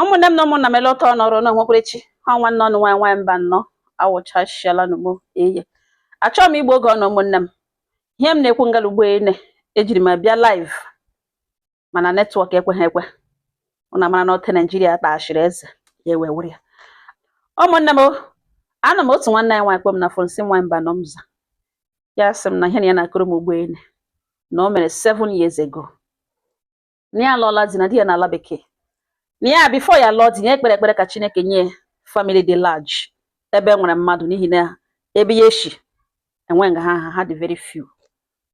ụmụnne m na ụmụnna m ele ọta ọnọrụ na onwekwerechi ha nwanne ọnụ nwaanyị nwaanyị mbanọ awụchashiala n'ugbo eye achọghị m igbu oge ọnụ ụmụnne m ihe m na-ekwu ngala ugbo ene ejiri m bịa live mana netwọk ekweghị ekwe ụnụ mara na ọte naijiria kpaghachiri eze ya ewe were ya ụmụnne m anọ m otu nwanne anyị nwaanyị kpọọ m na fon sị nwaanyị mbanọ m za ya sị m na ihe na ya na-akọrọ m ugbo ene na o mere seven years ago na ya alụọla di na di ya n'ala bekee na ya bifo ya lụọ di ya kpere ekpere ka chineke nye famili dị large ebe e nwere mmadụ n'ihi na ebe ya shi enwe nga ha ha dị very few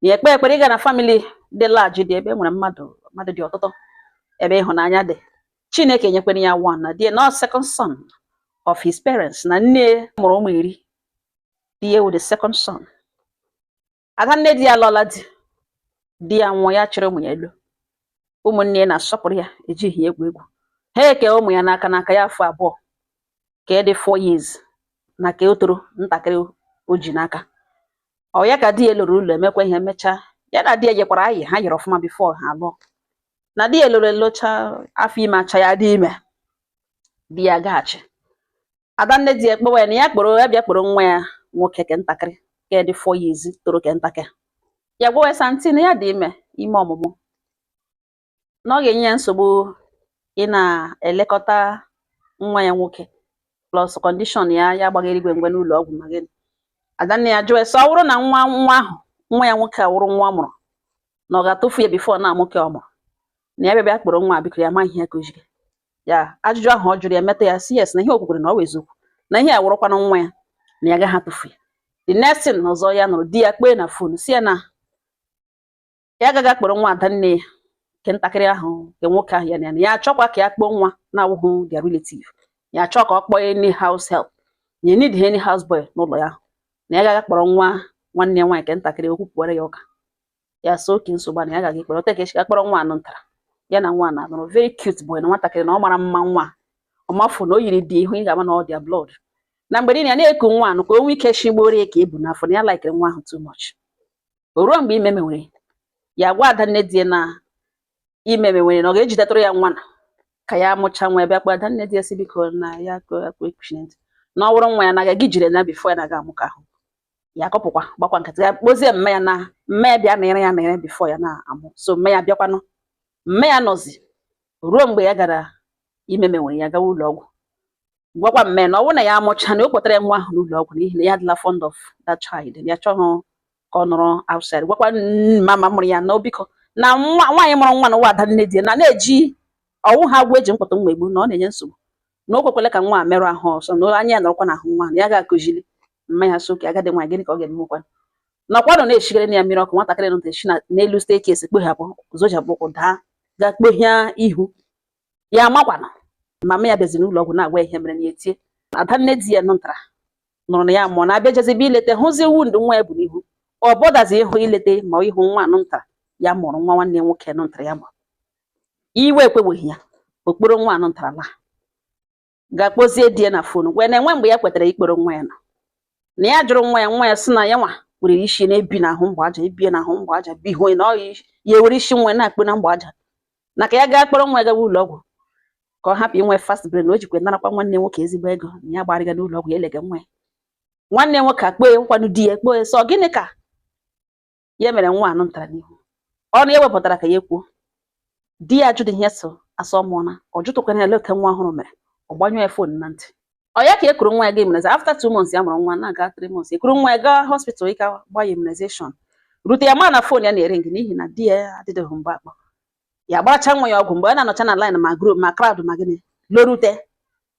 ya ekpe ekpere ịga na famili dị large dị ebe e nwere mmadụ mmadụ dị ọtụtụ ebe ịhụnanya dị chineke nyekwere ya one na di ya na second son of his parents na nne mụrụ ụmụ iri di ya wụ the second son ada nne di ya lụọla di di ya nwụọ ya chịrị ụmụ ya elo ụmụnne ya na-asọpụrụ ya ejighị ya egwu egwu ha eke ụmụ ya n'aka n'aka ya afọ abụọ ke dị four years na ke o toro ntakịrị o ji n'aka ọ ya ka di ya loro ụlọ emekwa ihe emechaa ya na di ya yikwara ọyị ha yiri ọfụma bifo ha lụọ na di ya loro elocha afọ ime achaa ya dị ime di ya gaghachi adanne di ekpewe na ya kporo ya bịa kporo nwa ya nwoke ke ntakịrị ke dị four years toro ke ntakịrị ya gwawe sị aunty na ya dị ime ime ọmụmụ na ọ ga-enye ya nsogbu ị na-elekọta nwa ya nwoke plus kọndishọn ya ya agbaghị eluigwe mgbe n'ụlọ ọgwụ ma gịnị adanne ya jụwe sị ọ bụrụ na nwa nwa ahụ nwa ya nwoke awụrụ nwa ọ mụrụ na ọ ga-atụfu ya bifo na amụ ke ọ mụrụ na ya bịa bịa kporo nwa biko ya ma ihe kụjiri ya ajụjụ ahụ ọ jụrụ ya meta ya sị yes na ihe o kwukwere na ọ wụ eziokwu na ihe a wụrụkwana nwa ya na ya gaghị atụfu ya the next thing ọzọ ya nụrụ di ya kpee na fon sị ya na ya ga-aga akpọrọ nwa ada nne ya nke ntakịrị ahụ nke nwoke ahụ ya na ya na ya achọkwa ka ya kpọọ nwa na-awụghị their relative ya achọ ka ọ kpọọ any house help ya need any house boy n'ụlọ ya na ya ga-aga akpọrọ nwa nwanne ya nwaanyị nke ntakịrị okwu pụwara ya ụka ya sị okay nsogbu na ya ga-aga akpọrọ ọta ka e shi ga kpọrọ nwa anụ ntara ya na nwa anụ wụrụ very cute boy na nwatakịrị na ọ mara mma nwa ọmafu na o yiri di ya ị hụ ị ga-ama na ọ their blood na mgbe niile ya na-eku nwa anụ ka o nwee ike shigboro ya ke o bu n'afọ na ya laikere nwa ahụ too much o ruo mgbe ime mewere ya gwa ada nne di na ime mewere na ọ ga-ejidetụrụ ya nwa na ka ya mụcha nwa ebe akpa ada nne di ya sị biko na ya akpa ekuchi na ntị na ọ bụrụ nwa ya na agaghị ejiri na bifo ya na-aga amụ ke ahụ ya akọpụkwa gbakwa nkịtị ya kpọzie mma ya na mma ya bịa nere ya nere before ya na-amụ so mma ya bịakwanụ mma ya nọzi ruo mgbe ya gara ime mewere ya gawa ụlọ ọgwụ gwakwa mma ya na ọ wụ na ya amụcha na ọ kpọtara nwa ahụ n'ụlọ ọgwụ n'ihi na ya adịla fond of that child ya chọghị ka ọ nọrọ outside gwakwa mama mụrụ ya na o biko na nwaanyị mụrụ nwa na nwa adanne di na na-eji ọ wụ ha ga-eji mkpọtụ nwa egbu na ọ na-enye nsogbu na o kwekwele ka nwa a merụ ahụ ọ sọ na anya ya nọrọkwa n'ahụ nwa ya ga-akụziri mma ya so ka agadi nwaanyị gịnị ka ọ ga-emekwa nakwanụ na-eshigere na ya mmiri ọkụ nwatakịrị nọ eshi n'elu staircase kpọghapụ zọchapụ ụkwụ daa ga kpohie ihu ya amakwana mama ya bịazi n'ụlọ ọgwụ na-agwa ihe mere na ya etie adanne di ya nụtara nụrụ na ya mụọ na abịa jezibe ileta hụzi wound nwa ya bu n'ihu ọ bọdazi ịhụ ileta ma ịhụ nwa anụ ntara ya mụrụ nwa nwanne nwoke nụ ntara ya mụrụ iwe ekweweghị ya ọ kpọrọ nwa anụ ntarala gaa kpọzie di ya na phone wee na-enwe mgbe ya kwetara ịkpọrọ nwa ya na na ya jụrụ nwa ya nwa ya sị na ya nwa were isi na-ebi n'ahụ mgbe aja ebie n'ahụ mgbe aja bie ihu na ọ ya ewere isi nwa na-akpụ na mgbe aja na ka ya gaa kpọrọ nwa ya gawa ụlọ ọgwụ ka ọ hapụ inwe fast brain o jikwa narakwa nwanne nwoke ezigbo ego na ya gbarịga n'ụlọ ọgwụ ya elega nwa ya nwanne nwoke akpọ ya nkwanụ di ya akpọ ya sị ọ gịnị ka ya mere nwa anụ ntara n'ihu ọnụ ya wepụtara ka ya kwuo di ya ajụdịghị ihe so asọ mụọ na ọ jụtụkwara ya ele otu nwa ọhụrụ mere ọ gbanyụọ ya phone na ntị ọ ya ka e kuru nwa ya gaa immunize after two months ya mụrụ nwa na-aga three months e kuru nwa ya gaa hospital ịga gba ya immunization rute ya ma na phone ya na-ering n'ihi na di ya adịdịghị mgbe akpọ ya gbaracha nwa ya ọgwụ mgbe ọ na-anọcha na line ma group ma crowd ma gịnị lọrute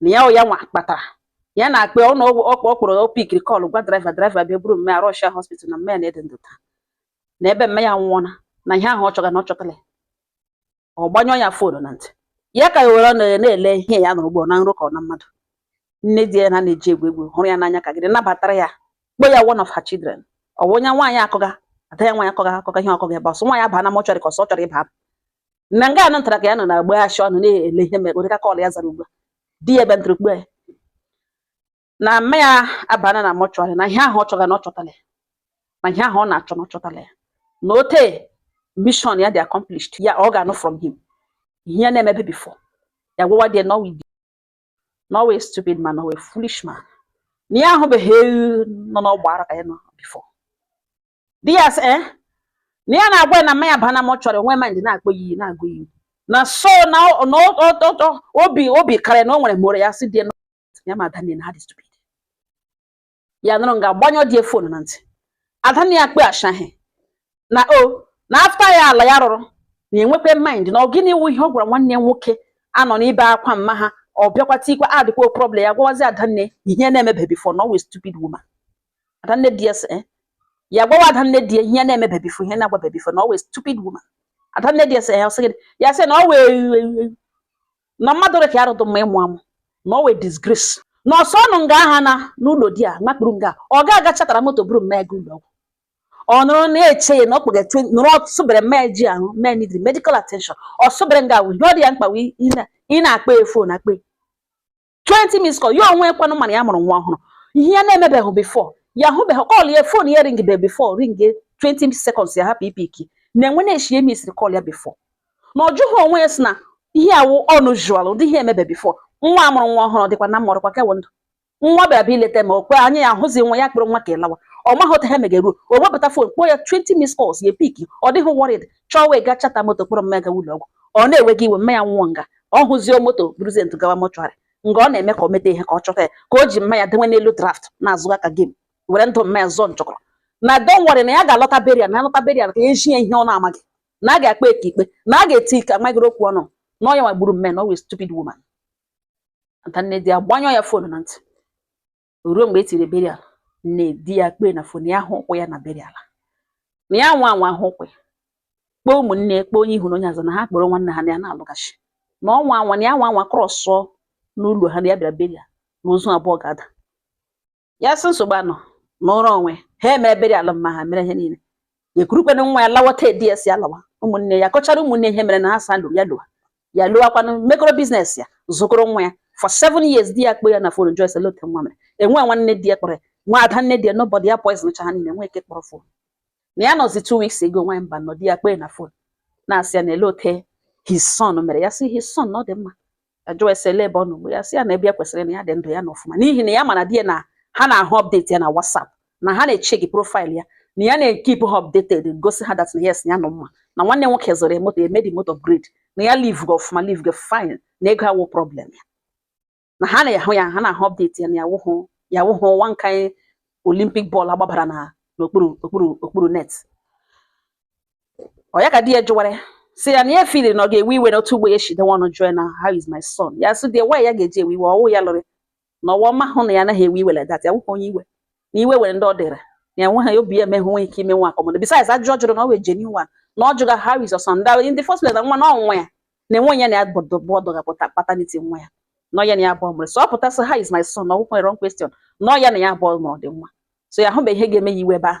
na ya ya nwa kpatara ya na-akpọ ya na ọ kpọrọ ọ pikiri call gwa driver driver bịa buru mma ya rush ya hospital na mma ya na-adị ndụ taa na ebe mma ya nwụọna na ihe ahụ ọ chọga na ọ chọtala ya ọ gbanyụọ ya phone na ntị ya ka ya were ọnụ ya na-ele ihe ya nụrụ ọ bụ na nrọ ka ọ na mmadụ nne di ya na na-eji egwu egwu hụrụ ya n'anya ka gịnị nabatara ya kpọ ya one of her children ọ bụ onye nwaanyị akọga ada ya nwaanyị akọga akọga ihe ọ kọga ebe ọsọ nwaanyị abaa na mortuary ka ọsọ ọ chọrọ ịba na nga anụ ntara ka ya nọ na agba achọ ọnụ na-ele ihe mere ụdịka call ya zara ugbu a di ya ebe ntara ugbu a na mma ya abana na mortuary na ihe ahụ ọ chọga na ọ chọtala ya na ihe ahụ ọ na-achọ na ọ chọtala ya na ote mission ya dị accomplished ya ọ ga-anụ from him ihe ya na-emebe before ya gwawa di ya na ọ wụ na ọ wụ stupid man na ọ wụ foolish man na ya ahụbeghị nọ n'ọgba ara ka ya nọ before di ya sị eh na ya na-agwa ya na mma ya abaa na mortuary nwe mind na-akpọ ya iyi na-agụ ya iyi na so na ọ- na ọ- ọ- ọ- ọ- obi obi kara ya na o nwere mụrụ ya sị di ya na ya ma adanne ha dị stupid ya nọrọ nga gbanyụọ di ya phone na ntị adanne ya akpọ ya ashaghị na o na after ya ala ya rụrụ na enwekwe mind na ọ gịnị wụ ihe ọ gwara nwanne ya nwoke a nọ na-ebe akwa mma ha ọ bịakwa tikwa adịkwa problem ya gwawazi adanne ihe na-emebe before na ọ wụ stupid woman adanne di ya sị eh, ya gwawa adanne di ya ihe na-emebe before ihe na-agwabe before na ọ wụ a stupid woman adanne di ya sị ya sị gịnị ya sị na ọ wee na mmadụ rịka ya rụdụ mma ịmụ amụ na ọ wụ a disgrace na ọsọ ọnụ nga aha na n'ụlọ di ya nakpuru nga ọ ga-aga chata moto buru mma ya gaa ụlọ ọgwụ ọ nọrọ na-eche ya na ọ kpụga nụrụ ọsụbere mma ji ahụ mee need medical attention ọsụbere nga wụ ihe ọ dị ya mkpa wụ ị na-akpọ ya fon akpọ 20 missed call ya onwe ya kwanụ ma na ya mụrụ nwa ọhụrụ ihe ya na-emebeghị before ya hụbeghị call ya fon ya ringide before ring 20 seconds ya hapụ ipiki na-enwe na-eshi ya misiri call ya before na ọ jụghị onwe ya si na ihe a wụ unusual ụdị ihe emebe before nwa amụrụ nwa ọhụrụ dịkwa na mụrụkwa kewe ndụ nwa bịara bịa ileta ma okwe anya ya ahụzi nwa ya kpere nwa ka ịlawa ọ maghị otu ha megeruo o wepụta fon kpọọ ya 20 missed calls ya pik ọ dịghị worried chọọ wee gaa chata moto kpọrọ mma ya gaa ụlọ ọgwụ ọ na-ewe gị iwe mma ya nwụọ nga ọ hụzie moto buruzie ntụ gawa mortuary nga ọ na-eme ka o meta ihe ka ọ chọta ya ka o ji mma ya dewe n'elu draft na-azọga ka game were ndụ mma ya zọọ nchọkọrọ na don't worry na ya ga-alọta burial na alọta burial ka eji ya ihe ọ na-amaghị na a ga-akpa eke ikpe na a ga-eti ike amaghịrị okwu ọnụ na ọ ya nwa gburu mma ya na ọ wụ a stupid woman adanne di ya gbanyụọ ya fon na ntị ruo mgbe e tiri burial nne di ya kpọọ ya na fon ya hụ ụkwụ ya na burial na ya nwa anwa hụ ụkwụ kpọọ ụmụnne kpọọ onye ihu na onye azụ na ha kpọrọ nwanne ha na ya na-alụghachi na ọnwa anwa na ya nwa anwa krọsụọ n'ụlọ ha na ya bịara burial na ozu abụọ ga-ada ya sị nsogbu anọ nọọrọ onwe ya emere burial mma ha mere ihe niile ekurukwana nwa ya lawa ka edi esi alawa ụmụnne ya kọchara ụmụnne ihe mere na ha sa lụrụ ya lụwa ya lụwakwanụ mekọrọ business ya zụkọrọ nwa ya for seven years di ya kpọọ ya na fon jụọ ya sị olee otu nwa mere enwe nwanne di ya kpọrọ nwa ada nne di ya nobody ya poison cha ha niile enwe nke kpọrọ fon na ya nọzi two weeks ago nwa mba nọ di ya kpọọ ya na fon na-asị ya na olee otu his son mere ya sị his son na ọ dị mma jụọ ya sị ele ebe ọ nọ ugbu ya sị ya na ebe ya kwesịrị na ya dị ndụ ya na ọfụma n'ihi na ya ma na di ya na ha na-ahụ update ya na WhatsApp na ha na-echeki profile ya na ya na-ekipụ ha updated gosi ha that na yes ya nọ mma na nwanne ya nwoke zụrụ moto emedi moto upgrade na ya livega ọfụma livega fine na ego awụ problem ya na ha na-ahụ ya ha na-ahụ update ya na ya wụhụ ya wụhụ one kind Olympic ball agbabara na n'okpuru okpuru okpuru net ọ ya ka di ya jụwara ya si ya na ya feel na ọ ga-ewe iwe na otu ugbo ya si dewe ọnụ jụọ na how is my son ya sị die why ya ga-eji ewe iwe ọ wụ ya lụrụ na ọwa ọ mahụ na ya anaghị ewe iwe like that ya wụkwa onye iwe na iwe were ndị ọ dịrị na ya nweghị obi ya emeghe nwe ike ime nwa akọmọdụ besides ajụjụ ọ jụrụ na ọ wụ a genuine one na ọ jụga how is your son that in the first place na nwa na ọ nwa ya na enwe ya na ya bọdụ bọdụ ga-apụta paternity nwa ya na ọ ya na ya abụọ mụrụ so ọ pụta sị how is my son na ọ wụkwa wrong question na ọ ya na ya abụọ mụrụ dị nwa so ya hụbe ihe ga-eme ya iwe ebe ahụ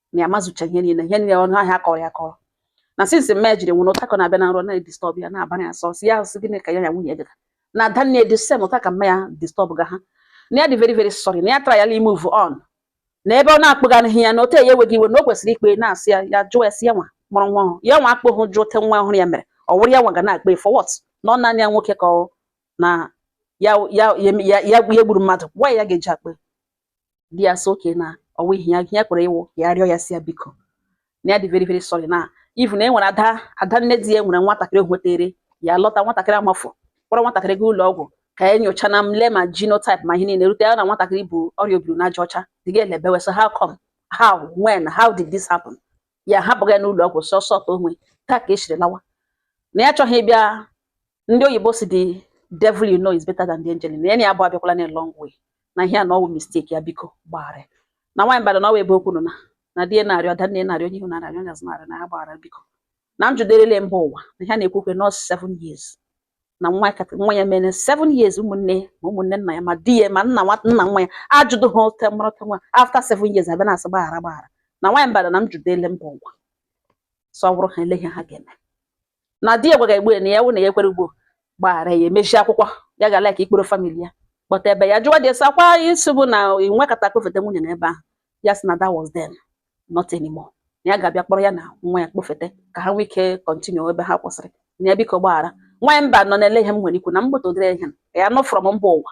na ya mazụcha ihe niile ihe niile ọnụ ahịa akọrọ ya akọrọ na since mma jiri nwụ na ụtakọ na-abịa na nrọ na-edisturb ya na-abara ya sọsị ya sị gịnị ka ya ya nwunye dịka na ada nne di same otu a ka mma ya disturb ga ha na ya dị very very sorry na ya tryala move on na ebe ọ na-akpọgaghị ya na ote ya enweghị iwe na o kwesịrị ikpe na-asị ya ya jụọ ya sị ya nwa mụrụ nwa ọhụrụ ya nwa akpọhụ jụọ ote nwa ọhụrụ ya mere ọ wụrụ ya nwa ga na-akpe for what na ọ naanị ya nwoke ka ọ na ya ya ya ya ya gburu mmadụ nwa ya ga-eji akpe di ya sị okay na ọwa ihe ya ya kwere ịwụ ya rịọ ya sị ya biko na ya dị very very sorry na even e nwere ada ada nne di ya nwere nwatakịrị hwetere ya lọta nwatakịrị amafọ kpọrọ nwatakịrị gaa ụlọ ọgwụ ka ya e nyocha na mle ma genotype ma ihe niile rute ya na nwatakịrị bụ ọrịa obiri n'aja ọcha dị ga elebewe so how come how when how did this happen ya hapụga ya n'ụlọ ọgwụ sọsọ ka onwe taa ka esiri lawa na ya achọghị ịbịa ndị oyibo sị the devil you know is better than the angel na ya na ya abụọ abịakwala a long way na ihe a na ọwụ mistake ya biko gbaghara na nwaanyị mbada na ọwa ebe okwu nọ na na di ya na-arịọ ada nne ya na-arịọ onye ihu na-arịọ onye azụ na-arịọ na ya gbaghara biko na m jụderele mba ụwa na ihe a na-ekwu okwu nọọsụ seven years na nwa kat- nwa ya mere seven years ụmụnne ya ma ụmụnne nna ya ma di ya ma nna nwa nna nwa ya ajụdụha ote mara ote nwa after seven years a bịa na-asị gbaghara gbaghara na nwaanyị mbada na m jụderele mba ụwa so ọ bụrụ ha elee ihe ha ga-eme na di ya gwaga ya ugbu a na ya wụ na ya ekwere ugbo gbaghara ya emechi akwụkwọ ya ga like ịkpọrọ family ya kpọta ebe ya jụwa dị esi akwa isi bụ na i nwekata kpọfeta nwunye na ebe ahụ ya sị na that was then not anymore na ya ga-abịa kpọrọ ya na nwa ya kpọfeta ka ha nwee ike continue ebe ha kwụsịrị na ya biko gbaghara nwaanyị mba nọ na elee ihe m nwere ikwu na mgbọtọ dere ihe a nọ from mba ụwa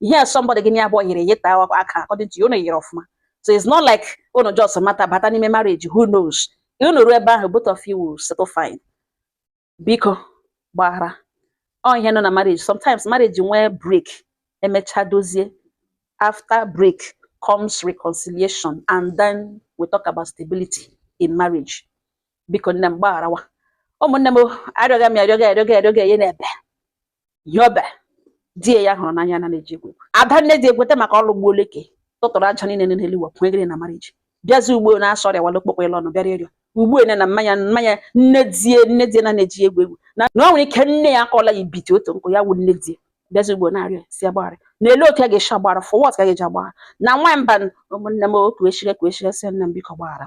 ihe somebody gị na ya abụọ yiri yita aka according to you unu yiri ọfụma so it's not like unu just mata bata n'ime marriage who knows unu ruo ebe ahụ both of you will settle fine biko gbaghara ọ ihe nọ na marriage sometimes marriage nwee break emecha dozie after break comes reconciliation and then we talk about stability in marriage biko nne m gbagharawa ụmụnne m arịọga m arịọga arịọga arịọga enye na-ebe yobe die ya hụrụ n'anya na na-eji egwu ada nne di egweta maka ọlụ gbuo oleke tụtụrụ aja niile n'elu ụwa pụọ egere na marriage bịazi ugbo na-asọ ọrịa wala okpokpo ịlụ ọnụ bịara ịrịọ ugbu ene na mmanya mmanya nne die nne die na na-eji egwu egwu na na o nwere ike nne ya akọla ya ibiti otu nkụ ya wụ nne die bịazi ugbo na-arịọ sị a gbaghara na elee otu a ga-esi agbara for what ka ga-eji agbara na nwa mba ụmụnne m otu echire ka echire sị nne m biko gbaghara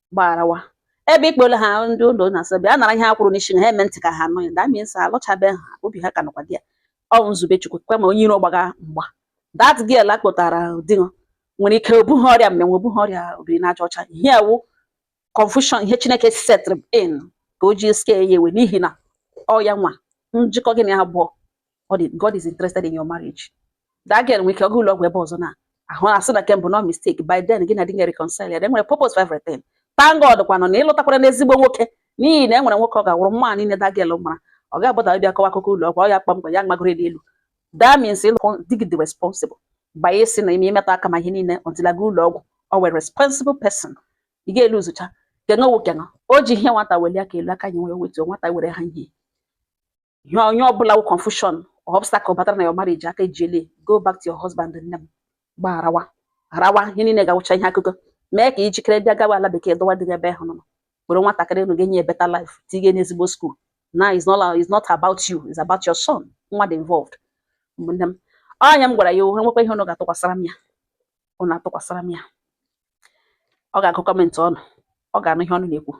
gbarawa ebe ikpere ha ndị ụlọ na-asọ bịa nara ihe ha kwuru n'isi na ha eme ntị ka ha nụ ya that means alụchabeha obi ha ka nọkwa di ya ọ nzube chukwu kwe ma onye iro gbaga mgba that girl a kpọtara di gị nwere ike o buha ọrịa mmịnwụ o buha ọrịa obiri n'aja ọcha ihe a wụ confusion ihe chineke set in ka o ji scare ya away n'ihi na ọ ya nwa njikọ gị na ya abụọ God is interested in your marriage that girl nwere ike ịga ụlọ ọgwụ ebe ọzọ na ha asị na nke mbụ no mistake by then gị na di ga reconcile e nwere purpose for everything thank God kwanụ na ị lụtakwaranụ ezigbo nwoke n'ihi na e nwere nwoke ọ ga-awụrụ mma niile that girl mara ọ ga-agbada bịa kọwa akụkọ ụlọ ọgwụ ọ ya kpamkpam ya magoro n'elu that means ịlụkwụ di gị dị responsible by ịsị na ime imetụ aka ma ihe niile until a gaa ụlọ ọgwụ ọ wụ a responsible person ị ga-elu zụcha kenga wokena o ji ihe nwata welie aka elu aka nyiwe e wetuo nwata were ha ihe ihe onye ọbụla wụ confusion obstacle batara na your marriage aka ejiele go back to your husband nne m gbaa lawa lawa ihe niile ga-awụcha ihe akụkọ mee ka i jikere bịa gawa ala bekee dọwa di ebe ahụ ọ nọ were nwatakịrị ụnụ ga-enye ya better life tinye n'ezigbo school now it's not it's not about you is about your son nwa dị involved ụmụnne m ọ ya m gwara ya o e nwekwaa ihe ụnụ ga-atụkwasara m ya ụnụ atụkwasara m ya ọ ga-agụ comment ụnụ ọ ga-anụ ihe ụnụ na-ekwu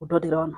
udo dịrị ụnụ